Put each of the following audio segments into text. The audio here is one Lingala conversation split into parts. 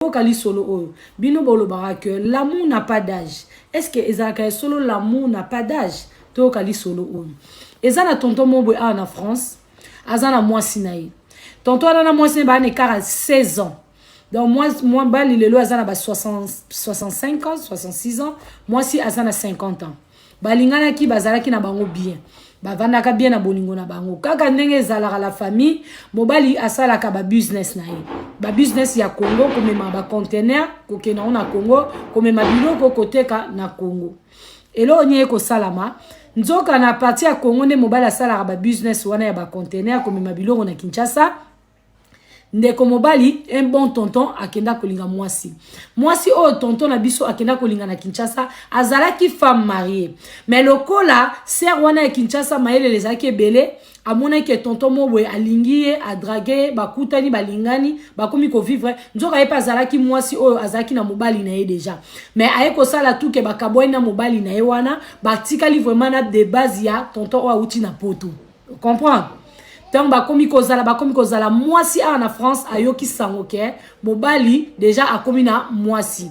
boyoka lisolo oyo bino bolobaka que l'amour n'a pas d'âge est ce que ezalaka ya solo l'amour n'a pas d'âge toyoka lisolo oyo eza na tonton mobwe awa na france aza na mwasi na ye tonton wana na mwasi na ye baa na ekara 16 ans donc mwa bali lelo aza na ba 65 ans 66 ans mwasi aza na 50 ans balinganaki bazalaki na bango bien bavandaka bien na bolingo na bango kaka ndenge ezalaka la famille mobali asalaka babusiness na ye babusiness ya congo komema bacontener kokenda yango na congo komema biloko koteka na congo eloko nini ekosalama nzoka na parti ya congo nde mobali asalaka babusiness wana ya bacontener komema biloko na kinshasa ndeko mobali un bon tonton akenda kolinga mwasi mwasi oyo tonton na biso akenda kolinga na kinshasa azalaki femme marie mais lokola sere wana ya kinshasa mayelele ezalaki ebele amonaki tonton mo boye alingi ye adrage ye bakutani balingani bakomi kovivre nzoka ye mpe azalaki mwasi oyo azalaki na mobali na ye deja mais aye kosala tuke bakabwani na mobali na ye wana batikali vraiment na debase ya tonton oyo awuti na poto comprendre ntango bakomi kozala bakomi kozala mwasi awa na france ayoki sango ke mobali deja akomi na mwasi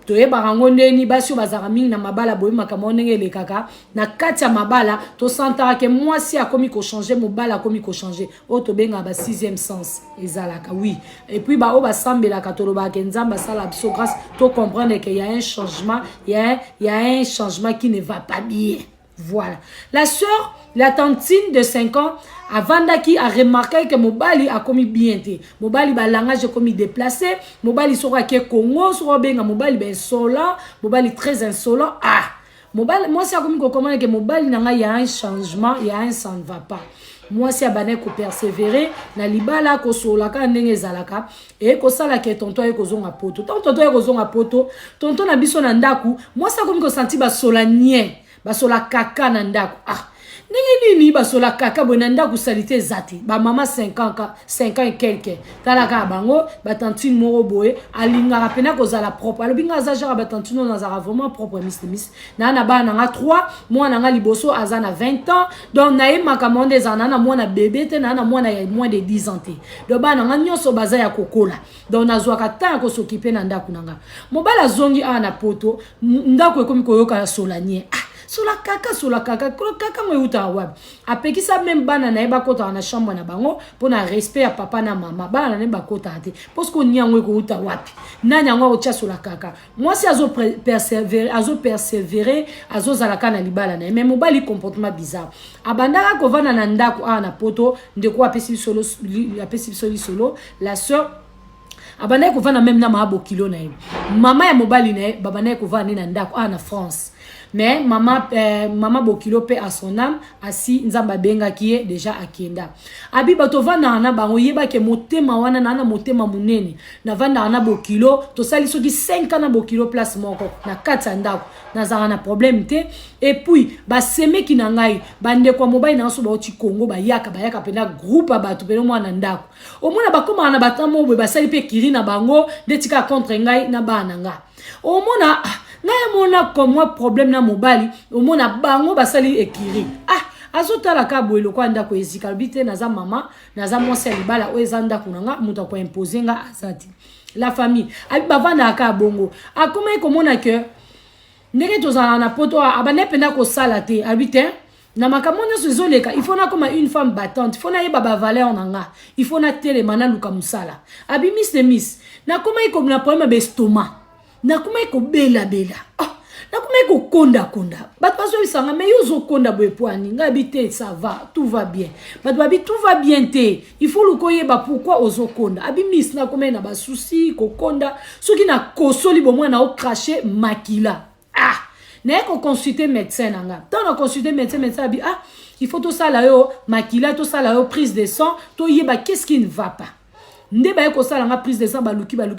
toyebaka yango ndeni basi oyo bazalaka mingi na mabala boyebi makambo yango ndenge elekaka na kati ya mabala tosantaka ke mwasi akomi kochange mobali akomi kochange oyo tobengaka ba sixième sens ezalaka wi epuis baoyo basambelaka tolobaka ke nzambe asala biso grâce tocomprendre ke ya un changement ya ya un changement qui ne va pas bien Voilà. La sœur, la tantine de 5 ans, avandaki aremarkaki ke mobali akomi bien te mobali balangage ekomi déplacé mobali soko ake congo soko abenga mobali bainsolant mobali très insolant ah mobali mwasi akomi kokomana ke mobali na ngai ya un changement ya un ça ne va pas mwasi abandaki kopersévere na libala kosolola kaka ndenge ezalaka eye kosala ke tonton aye kozonga poto ntango tonton aye kozonga poto tonton na biso na ndako mwasi akomi kosanti basola nie basola kaka na ndako ah ndenge nini basola kaka boye na ndako salite eza te bamama 5 ans quelque tala kaka bango batantine moko boye alingaka mpena kozala propre alobi ngai aza jaka batantine oyo nazalaka vraiment propre mislimis na na bana nanga 3 mwana nanga liboso aza na 20 ans donc na ye makambo wana ezala na na mwana bebe te na na mwana ya moins de 10 ans te donc bana nanga nyonso baza ya kokola donc nazwaka temps ya kosokipe na ndako na nga mobali azongi awa na poto ndako ekomi koyokana solanie ah sola kaka sola kaka kaka ngo eutaka wapi apekisa meme bana na ye bakotaka na chambre na bango mpo na respect ya papa na mama bana na ye bakotaka te mpo soki onia yango ekouta wapi nani yango akotya sola kaka mwasi azo persevere azo persevere azozala kaka na libala na ye mais mobali comportement bizarre abandaka kovanda na ndako awa na poto ndeko apesi biso apesi biso lisolo la sœur abandaki kovanda meme na maa bokilo na ye mama ya mobali na ye babandaki kovanda nde na ndako awa na france mais mama eh, mama bokilo pe à son âme asi nzambe abengaki ye deja akenda abi bato ovandaka na bango yebake motema wana naa na motema monene navandaka na bokilo tosali soki 5 ans na bokilo place moko na kati ya ndako nazalaka na problème te epuis basemeki na ngai bandeko ya mobali na ngai so bauti kongo bayaka bayaka mpena groupe ya bato mpena mwana ndako omona bakomaka na batamo boye basali mpe kiri na bango nde tika contre ngai na bana na ngai omona ah, ngai amona komwa problème na mobali omona bango basali ekiri ah azotala ka boye lokola ndako ezika alobi te naza mama naza mwasi ya libala oyo eza ndako na nga moto akoimpose nga aza te la famille abi bavandaka ka bongo akomaki komona ke ndenge tozalaka na poto abandaki mpenza kosala te abi te na makambo nyonso ezoleka il faut nakoma une femme battante faut nayeba bavaleur na nga il faut natelema naluka mosala abi miss de miss nakomaki kobina problème ya bestoma nakomaki kobelabela oh, ah, nakomaki kokondakonda bato bazoyebisa nga mai yo ozokonda boye pwani ngai abi te ça va tout va bien bato babi tout va bien te il faut luka oyeba pourkui ozokonda abi miss nakomai na basusi kokonda soki nakosoli bomwana okrache makila ah naye ko consulter médecin na nga ntango na consulter médecin médecin abi ah il faut tosala yo makila tosala yo prise de sang toyeba qu'est ce qui ne va pas nde baye kosala nga prise de sang baluki baluki